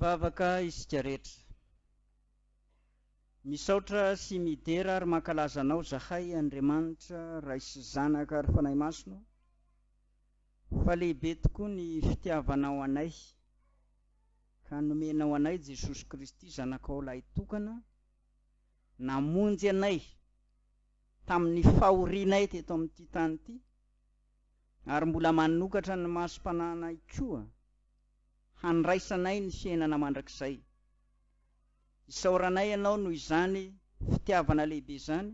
Hivavaka isika rehetra. Misaotra sy midera ary mankalaza Anao zahay Andriamanitra Ray sy Zanaka ary Fanahy Masina ô, fa lehibe tokoa ny fitiavanao anay ka nomenao anay Jesosy Kristy Zanakao Lahitokana namonjy anay tamin'ny fahorianay teto amin'ity tany ity ary mbola manokatra ny masom-pananay koa handraisanay ny fiainana mandrakizay. Isaoranay Anao noho izany fitiavana lehibe izany,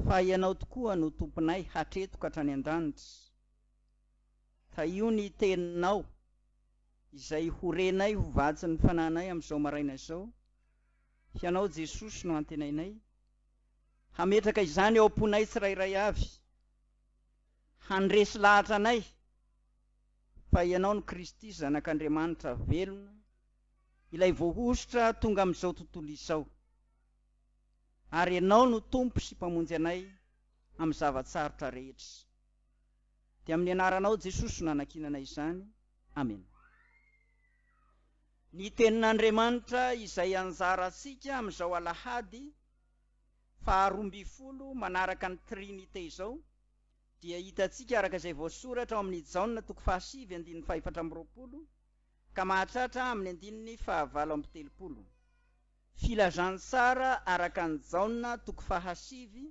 fa Ianao tokoa no Tomponay hatreto ka hatrany an-danitra. Tahio ny Teninao, izay ho renay ho vatsin'ny fananay amin'izao maraina izao. Hianao Jesosy no antenainay hametraka izany ao am-ponay tsirairay avy. Handresy lahatra anay fa Ianao no Kristy, Zanak'Andriamanitra velona, ilay voahosotra tonga amin'izao tontolo izao. Ary Ianao no Tompo sy Mpamonjy anay amin'ny zava-tsarotra rehetra. Dia amin'ny Anaranao Jesosy no anankinana izany. Amena. Ny Tenin'Andriamanitra izay anjarantsika amin'izao Alahady. faharoa ambin'ny folo manaraka ny Trinite izao dia hitantsika araka izay voasoratra ao amin' i Jaona toko fahasivy andininy fahefatra amby roapolo ka mahatratra amin' ny andininy fahavalo amby telopolo. Filazantsara araka an' i Jaona toko fahasivy,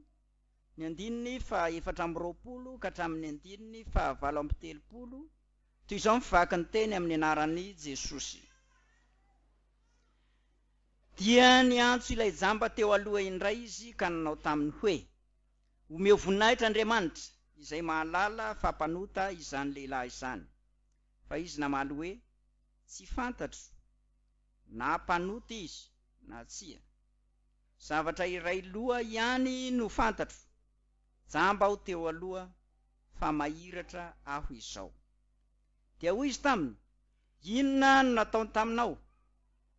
ny andininy fahaefatra amby roapolo ka hatramin' ny andininy fahavalo amby telopolo, toy izao ny vaky ny teny amin' ny anaran' i Jesosy. Dia niantso ilay jamba teo aloha indray izy ka nanao taminy hoe, Omeo voninahitra Andriamanitra, izay mahalala fa mpanota izany lehilahy izany. Fa izy namaly hoe, Tsy fantatro na mpanota izy na tsia. Zavatra iray loha ihany no fantatro, jamba aho teo aloha, fa mahiratra aho izao. Dia hoy izy taminy, Inona no nataony taminao?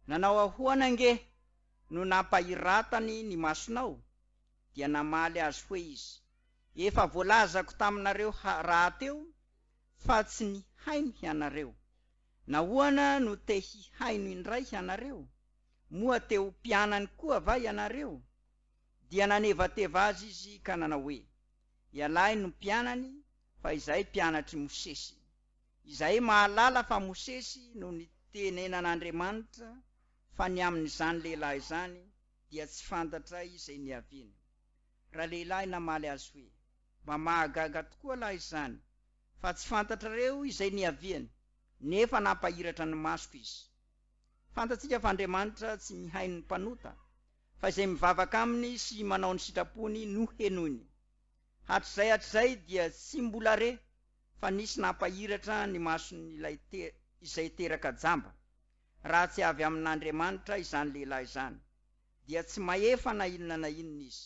Nanao ahoana ange no nampahiratany ny masonao? Dia namaly azy hoe izy, Efa voalazako taminareo rahateo fa tsy nihaino hianareo. Nahoana no te hihaino indray hianareo? Moa te ho mpianany koa va ianareo? Dia nanevateva azy izy ka nanao hoe, Ialahy no mpianany fa izahay mpianatr'i Mosesy. Izahay mahalala fa Mosesy no nitenenan'Andriamanitra fa ny amin'izany lehilahy izany dia tsy fantatray izay niaviany. Ralehilahy namaly azy hoe, Mba mahagaga tokoa lahy izany, fa tsy fantatrareo izay niaviany, nefa nampahiratra ny masoko izy. Fantatsika fa Andriamanitra tsy mihaino ny mpanota, fa izay mivavaka aminy sy manao ny sitrapony no henoiny. Hatrizay hatrizay dia tsy mbola re! fa nisy nampahiratra ny mason'ilay te, izay teraka jamba. Raha tsy avy amin'Andriamanitra izany lehilahy izany, dia tsy mahefa na inona na inona izy.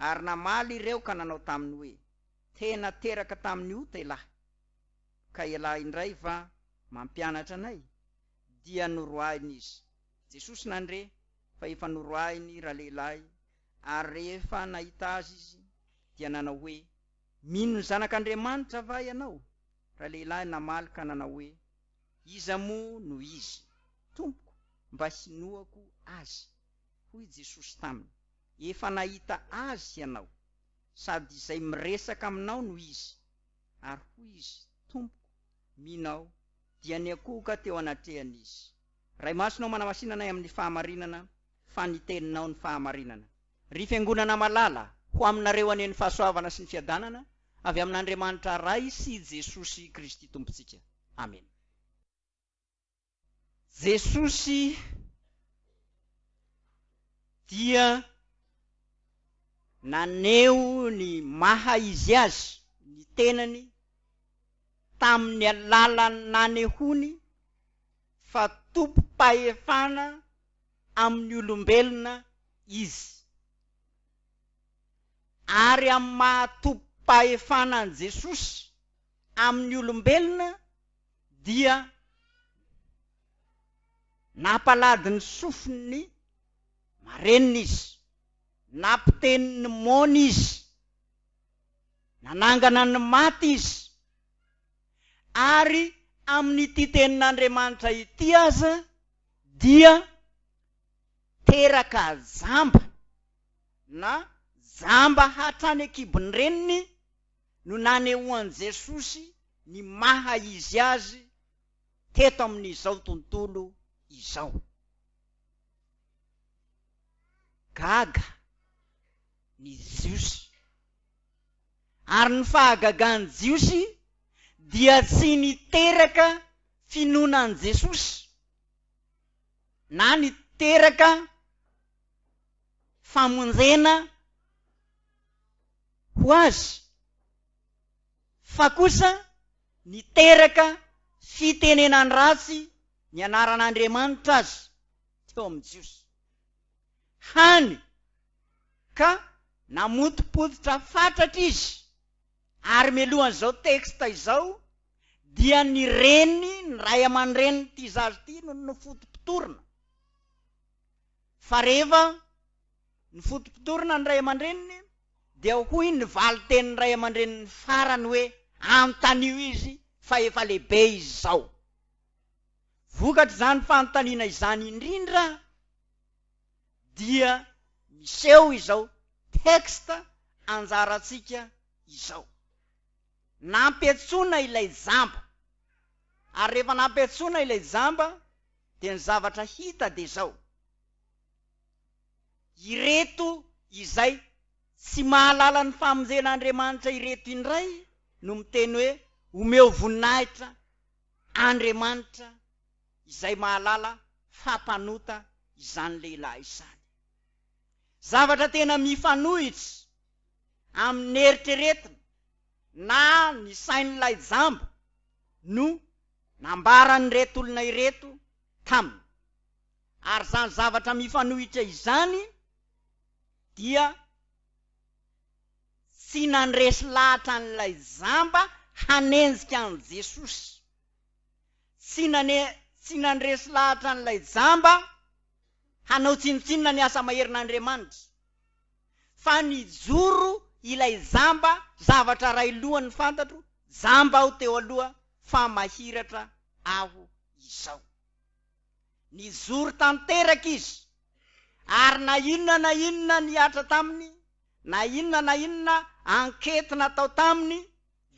Ary namaly ireo ka nanao taminy hoe, Tena teraka tamin'ny ota ialahy. Ka ialahy indray va mampianatra anay? Dia noroahiny izy. Jesosy nandre fa efa noroahiny ralehilahy, ary rehefa nahita azy izy, dia nanao hoe, Mino ny Zanak'Andriamanitra va ianao? Ralehilahy namaly ka nanao hoe, Iza moa no Izy, Tompoko, mba hinoako Azy? Hoy i Jesosy taminy, Efa nahita Azy hianao, sady izay miresaka aminao no Izy. Ary hoy izy, Tompoko, mino aho, dia niakohoka teo anatrehany Izy. Ray Masina ô, manamasinanay amin'ny fahamarinana, fa ny teninao ny fahamarinana. Ry fiangonana malala, ho aminareo anie ny fahasoavana sy ny fiadanana avy amin'Andriamanitra Ray sy Jesosy Kristy Tompontsika. Amena. Jesosy dia naneho ny maha izy azy ny tenany tamin'ny alalan'ny nanehoany fa tompom-pahefana amin'ny olombelona izy, ary amin'ny maha-tobim-pahefana an'i Jesosy amin'ny olombelona dia nampalady ny sofin'ny marenina izy, nampiteny ny moana izy, nanangana ny maty izy, ary amin'ity tenin'Andriamanitra ity aza dia teraka jamba na jamba hatrany an-kibon'ny reniny no nanehoan'i Jesosy ny maha izy azy teto amin'izao tontolo izao. Gaga ny Jiosy. Ary ny fahagagan'ny Jiosy dia tsy niteraka finoana an'i Jesosy na niteraka famonjena ho Azy, fa kosa niteraka fitenenan-dratsy ny anaran'Andriamanitra Azy teo amin'ny Jiosy. hany ka namotopototra fatratra izy ary mialohan'izao texte izao dia ny reny ny ray aman-drenin'ity zaza ity no nofotopotorina fa rehefa nofotopotorina ny ray aman-dreniny dia hoy ny valin-tenin'ny ray aman-dreniny farany hoe anontanio izy fa efa lehibe izy izao. Vokatr'izany fanontaniana izany indrindra dia miseho izao texte anjarantsika izao. Nampiantsoina ilay jamba, ary rehefa nampiantsoina ilay jamba dia ny zavatra hita dia izao, ireto izay tsy mahalala ny famonjen'Andriamanitra ireto indray no miteny hoe omeo voninahitra Andriamanitra, izay mahalala fa mpanota izany lehilahy izany. Zavatra tena mifanohitra amin'ny eritreretina na ny sain'ilay jamba no nambaran'ireto olona ireto taminy. Ary izany zavatra mifanohitra izany dia tsy nandresy lahatra an'ilay jamba hanenjika an'i Jesosy. Tsy nane, tsy nandresy lahatra an'ilay jamba hanao tsinontsinona ny asa maherin'Andriamanitra, fa nijoro ilay jamba, zavatra iray lohany fantatro, jamba aho teo aloha, fa mahiratra aho izao. Nijoro tanteraka izy, ary na inona na inona nihatra taminy, na inona na inona enquete natao taminy,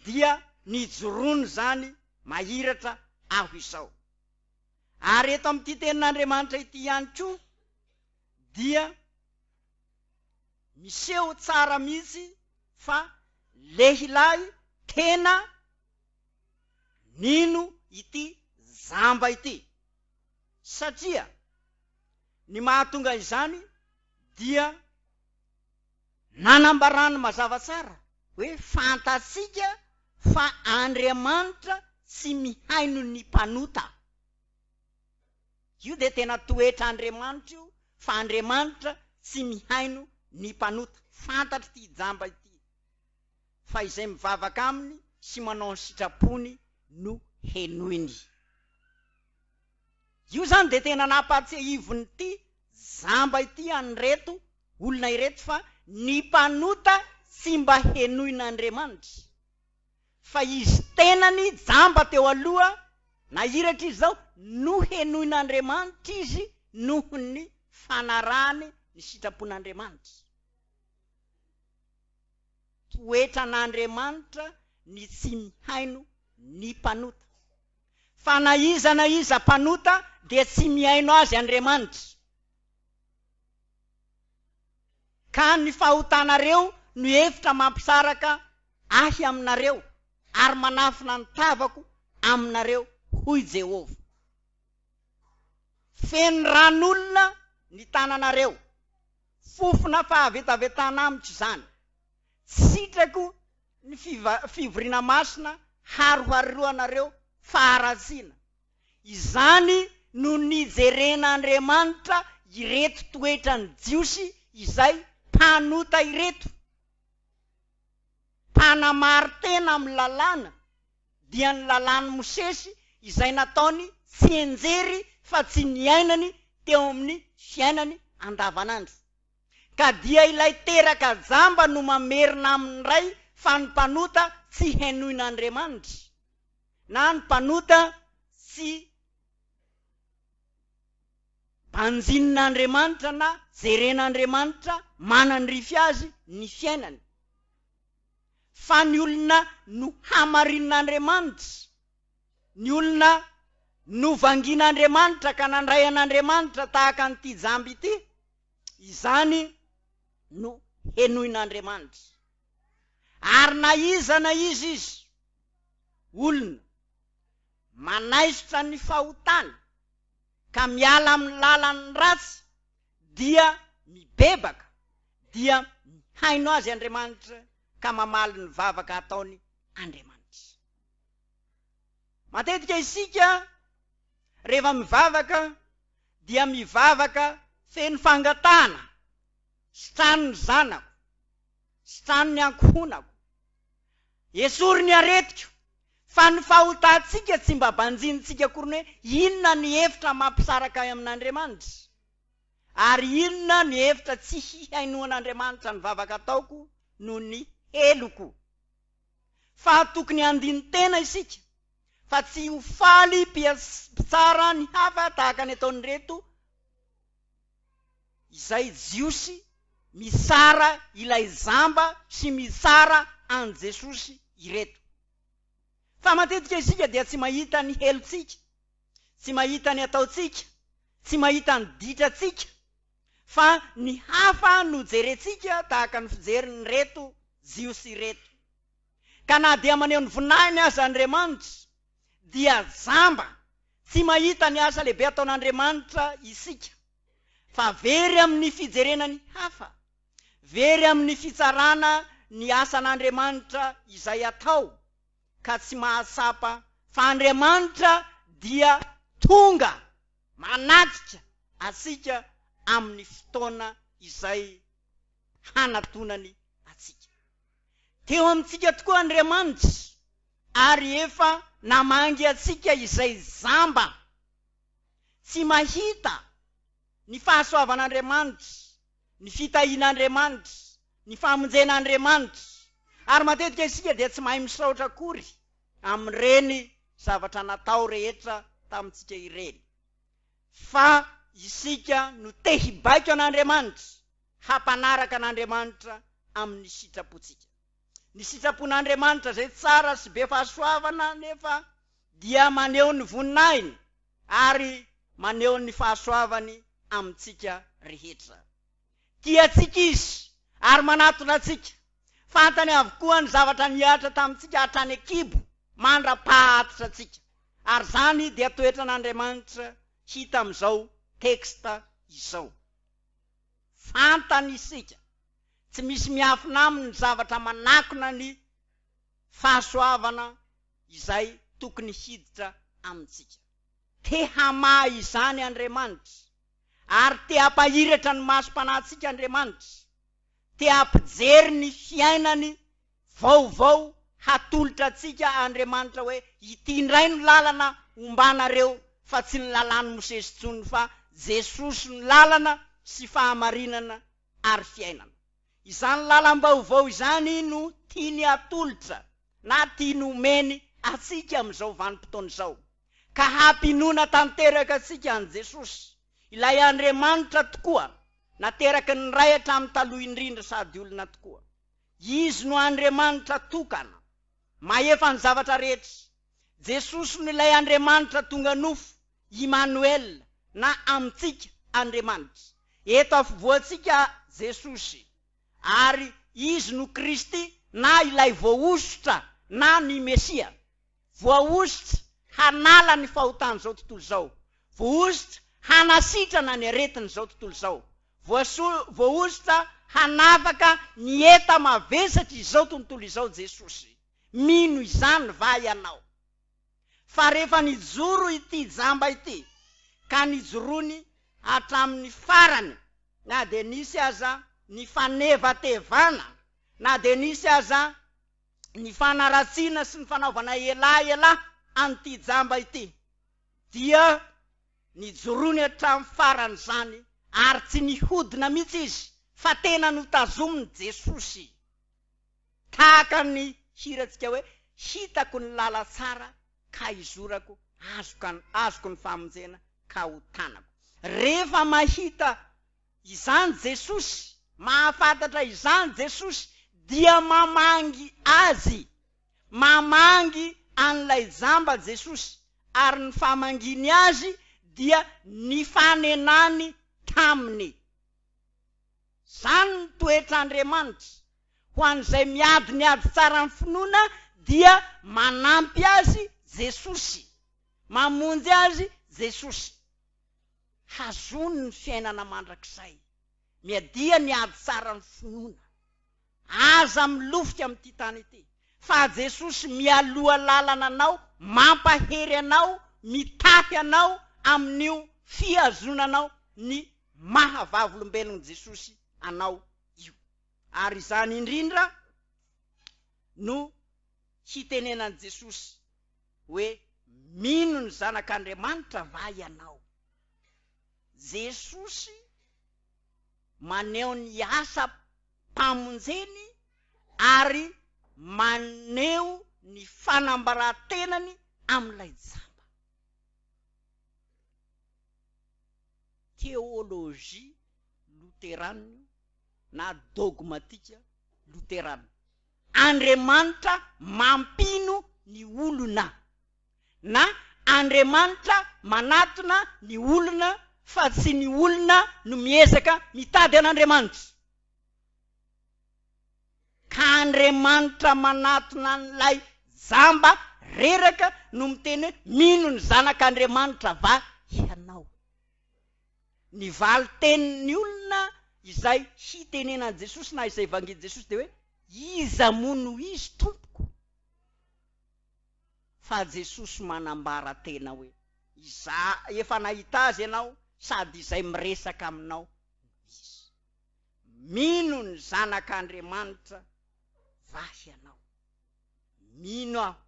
dia nijoroany izany mahiratra aho izao. Ary eto amin'ity Tenin'Andriamanitra ity ihany koa dia miseho tsara mihitsy fa lehilahy tena nino ity jamba ity, satria ny mahatonga izany dia. Nanambarany mazava tsara hoe fantatsika fa Andriamanitra tsy mihaino ny mpanota. Io dia tena toetr'Andriamanitra io fa Andriamanitra tsy mihaino ny mpanota. Fantatr'ity jamba ity fa izay mivavaka aminy sy manao ny sitrapony no henoiny. Io izany dia tena nampahatsiahivin'ity jamba ity an'ireto olona ireto fa ny mpanota tsy mba henoin'Andriamanitra. Fa izy tenany jamba teo aloha, nahiratra izy izao, no henoin'Andriamanitra izy noho ny fanarahany ny sitrapon'Andriamanitra. Toetran'Andriamanitra ny tsy mihaino ny mpanota. fa na iza na iza mpanota dia tsy mihaino azy Andriamanitra, ka ny fahotanareo no hevitra mampisaraka Ahy aminareo, ary manafina ny tavako aminareo, hoy Jehovah. Feno ran'olona ny tananareo, fofona fahavetavetana amiko izany, tsy sitrako Ny fivoriana masina haroharoanareo faharatsiana. Izany no nijerena Andriamanitra ireto toetran'ny Jiosy izay mpanota ireto. Mpanamari-tena amin'ny Lalàna, dia ny Lalàn'i Mosesy izay nataony tsianjery fa tsy niainany teo amin'ny fiainany andavanandro. Ka dia ilay teraka jamba no mamerina amin'ny ray fa ny mpanota tsy henoina Andriamanitra na ny mpanota tsy banjinina Andriamanitra na jerena Andriamanitra manandrify azy ny fiainany fa ny olona no hamarinina Andriamanitra ny olona no vangiana Andriamanitra ka nandray an'Andriamanitra tahaka an'ity jamba ity Izany no henoin'Andriamanitra. Ary na iza na iza izy, olona, manaisotra ny fahotany ka miala amin'ny lalan'ny ratsy dia mibebaka dia mihaino azy Andriamanitra ka mamaly ny vavaka ataony Andriamanitra. Matetika isika. Rehefa mivavaka dia mivavaka feno fangatahana, sitrano ny zanako, sitrano ny ankohonako, esory ny aretiko, fa ny fahotantsika tsy mba banjinintsika akory ny hoe inona ny hevitra mampisaraka ahy amin'Andriamanitra, ary inona ny hevitra tsy hihainoan'Andriamanitra ny vavaka ataoko noho ny heloko. fa tokony handini-tena isika fa tsy ho faly mpitsara ny hafa tahaka ny ataon'ireto izay jiosy mitsara ilay jamba sy mitsara an'i Jesosy ireto. Fa matetika isika dia tsy mahita ny helontsika, tsy mahita ny ataontsika, tsy mahita ny ditrantsika, Fa ny hafa no jerentsika tahaka ny fijerin'ireto Jiosy ireto. Ka na dia maneho ny voninahiny aza Andriamanitra, dia jamba, tsy mahita ny asa lehibe ataon'Andriamanitra isika, fa very amin'ny fijerena ny hafa, very amin'ny fitsarana ny asan'Andriamanitra izay atao, ka tsy mahatsapa fa Andriamanitra dia tonga. Manajika antsika amin'ny fotoana izay hanatonany antsika. Teo amintsika tokoa Andriamanitra ary efa namangy antsika izay jamba tsy mahita ny fahasoavan'Andriamanitra, ny fitahian'Andriamanitra, ny famonjena Andriamanitra. Ary matetika isika dia tsy mahay misaotra akory. amin'ireny zavatra natao rehetra tamintsika ireny, fa isika no te hibaiko an'Andriamanitra, hampanaraka an'Andriamanitra amin'ny sitrapontsika. Ny sitrapon'Andriamanitra izay tsara sy be fahasoavana anefa dia maneho ny voninahiny ary maneho ny fahasoavany amintsika rehetra. Tia antsika Izy ary manatona antsika. Fantany avokoa ny zavatra nihatra tamintsika hatrany an-kibo mandra-pahatitra antsika. Ary izany dia toetran'Andriamanitra hita amin'izao texte izao. Fantany isika. Tsy misy miafina aminy ny zavatra manakona ny fahasoavana izay tokony hiditra amintsika. Te hamaha izany Andriamanitra. ary te hampahiratra ny masom-panahintsika Andriamanitra, te hampijery ny fiainany vaovao hatolotra antsika Andriamanitra hoe ity indray no lalana hombanareo fa tsy ny lalàn'i Mosesy intsony fa Jesosy no lalana sy fahamarinana ary fiainana. Izany lalam-baovao izany no tiany hatolotra na tiany homeny antsika amin'izao vanim-potoana izao. ka hampinoana tanteraka antsika an'i Jesosy, ilay Andriamanitra tokoa, nateraky ny Ray hatramin'ny taloha indrindra sady olona tokoa. Izy no Andriamanitra tokana, mahefa ny zavatra rehetra. Jesosy no ilay Andriamanitra tonga nofo, Imanoel, na Amintsika, Andriamanitra. Eto afovoantsika Jesosy, ary Izy no Kristy, na ilay Voahosotra, na ny Mesia. Voahosotra hanala ny fahotan'izao tontolo izao. Voahosotra hanasitrana ny aretin'izao tontolo izao. Voaso, voahosotra hanafaka ny eta mavesatr'izao tontolo izao Jesosy. Mino izany va ianao? Fa rehefa nijoro ity jamba ity, ka nijoroany hatramin'ny farany, na dia nisy aza ny fanevatevana, na dia nisy aza. ny fanaratsiana sy ny fanaovana elaela an'ity jamba ity dia nijoroany hatramin'ny faran'izany ary tsy nihodina mihitsy izy fa tena notazomin'i Jesosy tahaka ny hirantsika hoe hitako ny lala tsara ka hizorako, azoko ny famonjena ka ho tanako. Rehefa mahita Izany Jesosy, mahafantatra izany Jesosy dia mamangy azy. Mamangy an'ilay jamba Jesosy ary ny famangiany azy dia nifanenany taminy. Izany ny toetr'Andriamanitra, ho an'izay miady ny ady tsaran'ny finoana dia manampy azy Jesosy, mamonjy azy Jesosy. Hazony ny fiainana mandrakizay. Miadia ny ady tsara ny finoana. Aza milofika amin'ity tany ity, fa Jesosy mialoha lalana anao, mampahery anao, mitahy anao amin'io fihazonanao ny maha vavolombelon'i Jesosy anao io. Ary izany indrindra no hitenenan'i Jesosy. hoe mino ny zanak'Andriamanitra va ianao? Jesosy maneho ny asam-pamonjeny ary maneho ny fanambaran-tenany amin'ilay jamba. Teolojia loteranio na dogmatika loterana. Andriamanitra mampino ny olona na Andriamanitra manatona ny olona fa tsy ny olona no miezaka mitady an'Andriamanitra. Ka Andriamanitra manatona an'ilay jamba reraka no miteny hoe mino ny Zanak'Andriamanitra va ianao. Ny valin-tenin'ny olona izay hitenenan'i Jesosy na izay vangin'i Jesosy dia hoe, Iza moa no izy, Tompoko? Fa Jesosy manambara tena hoe, Izaho efa nahita azy ianao sady izay miresaka aminao no izy. Mino ny Zanak'Andriamanitra va ianao? Mino aho,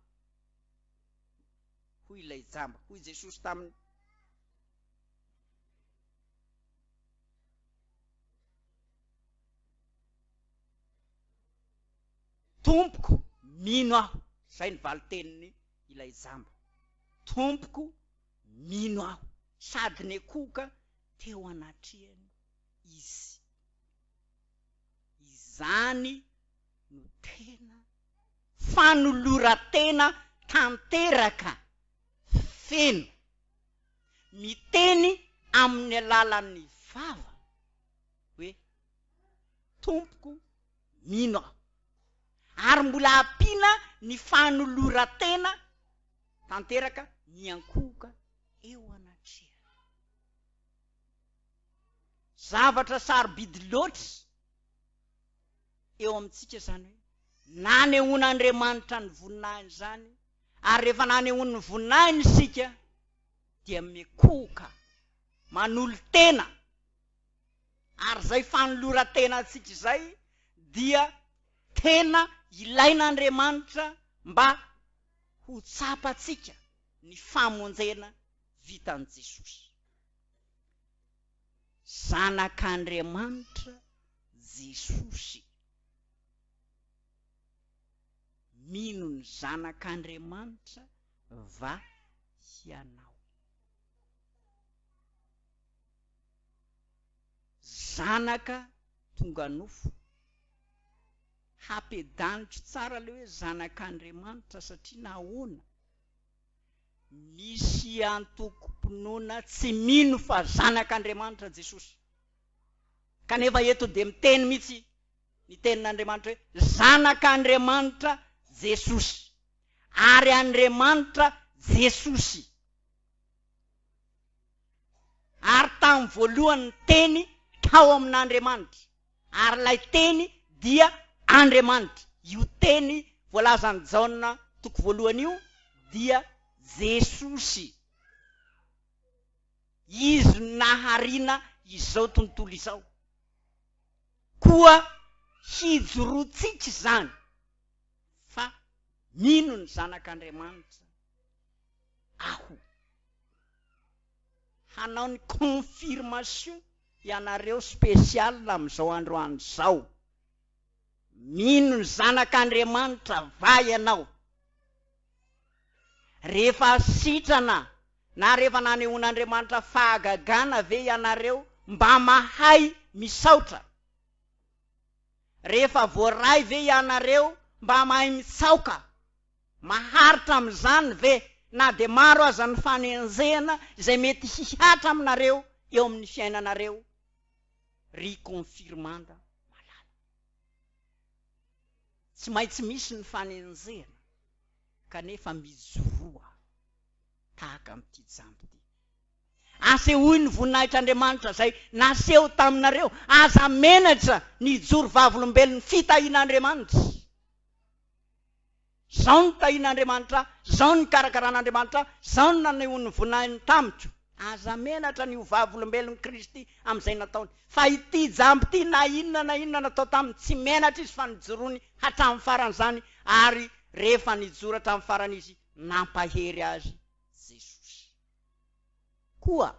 hoy ilay jamba. Hoy Jesosy taminy, Tompoko, mino aho, izay ny valin-tenin' ilay jamba. Tompoko, mino aho. Sady nekoka teo anatrehany izy. Izany no tena fanoloran-tena tanteraka, feno, Miteny amin'ny alalan'ny vava hoe, Tompoko, mino aho. Ary mbola ampiana ny fanoloran-tena tanteraka miankohoka eo anatrehany. Zavatra sarobidy loatra. eo amintsika izany hoe nanehoan'Andriamanitra ny voninahiny izany, ary rehefa nanehoany ny voninahiny isika dia mikohoka, manolo-tena, ary izay fanoloran-tenantsika izay dia tena ilain'Andriamanitra mba ho tsapantsika ny famonjena vitan'i Jesosy. Zanak'Andriamanitra Jesosy. Mino ny Zanak'Andriamanitra va hianao? Zanaka tonga nofo. Hapedaniko tsara le hoe zanak'Andriamanitra satria nahoana? Misy antokom-pinoana tsy mino fa Zanak'Andriamanitra Jesosy, kanefa eto dia miteny mihitsy ny Tenin'Andriamanitra hoe Zanak'Andriamanitra Jesosy, ary Andriamanitra Jesosy. Ary tamin'ny voalohany ny Teny tao amin'Andriamanitra. Ary ilay Teny dia Andriamanitra. Io Teny voalazan'i Jaona toko voalohany io dia Jesosy. Izy no naharina izao tontolo izao. Koa hijoroantsika izany fa mino ny Zanak'Andriamanitra aho. hanao ny confirmation ianareo special amin'izao androany izao, mino ny zanak'Andriamanitra va ianao? rehefa sitrana na rehefa nanehoan'Andriamanitra fahagagana ve ianareo mba mahay misaotra? rehefa voaray ve ianareo mba mahay mitsaoka? Maharitra amin'izany ve na dia maro aza ny fanenjehana izay mety hihatra aminareo eo amin'ny fiainanareo ry confirmanda malala? Tsy maintsy misy ny fanenjehana kanefa mijoroa tahaka amin'ity jambo ity. Asehoy ny voninahitr'Andriamanitra izay naseho taminareo, aza menatra ny hijoro vavolombelon'ny fitahian'Andriamanitra. Izao no tahian'Andriamanitra ahy, izao no nikarakaran'Andriamanitra ahy, izao no nanehoan'ny voninahiny tamiko. Aza menatra ny ho vavolombelon'i Kristy amin'izay nataony, fa ity jamba ity na inona na inona natao taminy, tsy menatra izy fa nijoroany hatramin'ny farany izany, ary rehefa nijoro hatramin'ny farany izy, nampahery azy Jesosy. Koa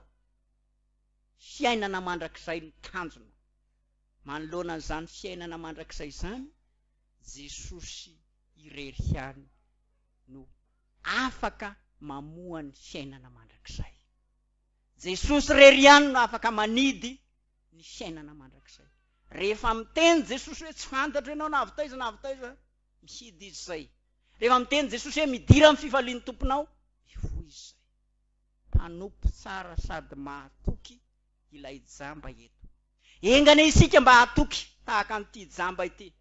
fiainana mandrakizay no tanjona manoloana an'izany fiainana mandrakizay izany. Jesosy irery ihany no afaka mamoha ny fiainana mandrakizay. Jesosy irery ihany no afaka manidy ny fiainana mandrakizay. Rehefa miteny Jesosy hoe tsy fantatro ianao na avy taiza na avy taiza, mihidy izy izay. Rehefa miteny Jesosy hoe midira amin'ny fifalian'ny Tomponao, mivoy izy izay. Mpanompo tsara sady mahatoky ilay jamba eto. Enga anie isika mba hatoky tahaka an'ity jamba ity,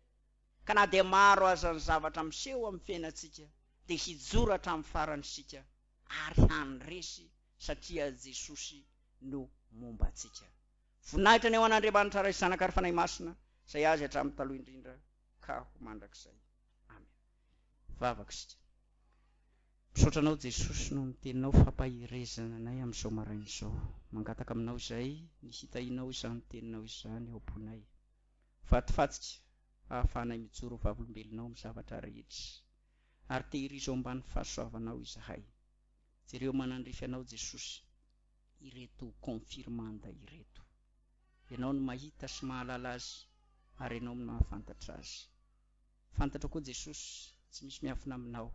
ka na dia maro aza ny zavatra miseho amin'ny fiainantsika, dia hijoro hatramin'ny farany isika ary handresy satria Jesosy no momba antsika. Voninahitra ny ho an'Andriamanitra Ray sy Zanaka ary Fanahy Masina, izay Azy hatramin'ny taloha indrindra ka ho mandrakizay. Amena. vavaka isika. Misaotra anao Jesosy noho ny teninao fampaherezana anay amin'izao maraina izao. Mangataka aminao izay ny hitahianao izany teninao izany ao am-ponay. Vatofatsika ahafahanay mijoro ho vavolombelonao amin'ny zavatra rehetra. Ary tehirizo ambany fahasoavanao izahay. Jereo manandrify anao Jesosy ireto confirmanda ireto. Ianao no mahita sy mahalala azy ary ianao no mahafantatra azy. Fantatro koa Jesosy tsy misy miafina aminao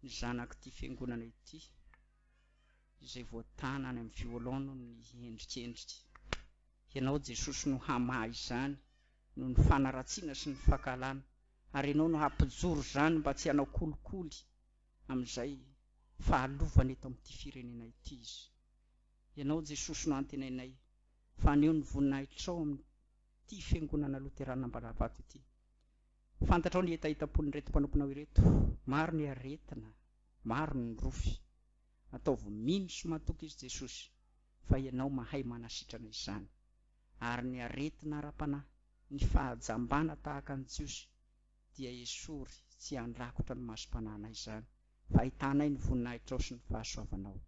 ny zanak'ity fiangonana ity izay voatana any amin'ny violon noho ny endrikendrika. Ianao Jesosy no hamaha izany noho ny fanaratsiana sy ny fankahalana ary Ianao no hampijoro izany mba tsy hanao kolikoly amin'izay fahalovana eto amin'ity firenena ity izy. Ianao Jesosy no antenainay fa haneho ny voninahitrao amin'ny ity Fiangonana Loterana Ambalavato ity. Fantatrao ny hetahetam-pon'ireto mpanomponao ireto. Maro ny aretina, maro ny nirofy. Ataovy mino sy matoky izy Jesosy fa Ianao mahay manasitrana izany. Ary ny aretina ara-panahy, ny fahajambana tahaka ny Jiosy dia esory tsy handrakotra ny masom-panahinay izany fa ahitanay ny voninahitrao sy ny fahasoavanao.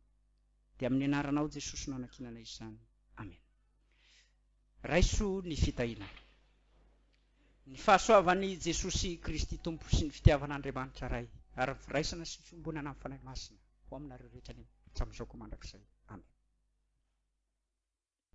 Dia amin'ny Anaranao Jesosy no anankinanay izany. Amena. Raiso ny fitahiana. Ny fahasoavan' i Jesosy Kristy Tompo sy ny fitiavan' Andriamanitra Ray ary ny firaisana sy ny fiombonana amin'ny Fanahy Masina ho aminareo rehetra any hatramin'izao koa mandrakizay. Amena.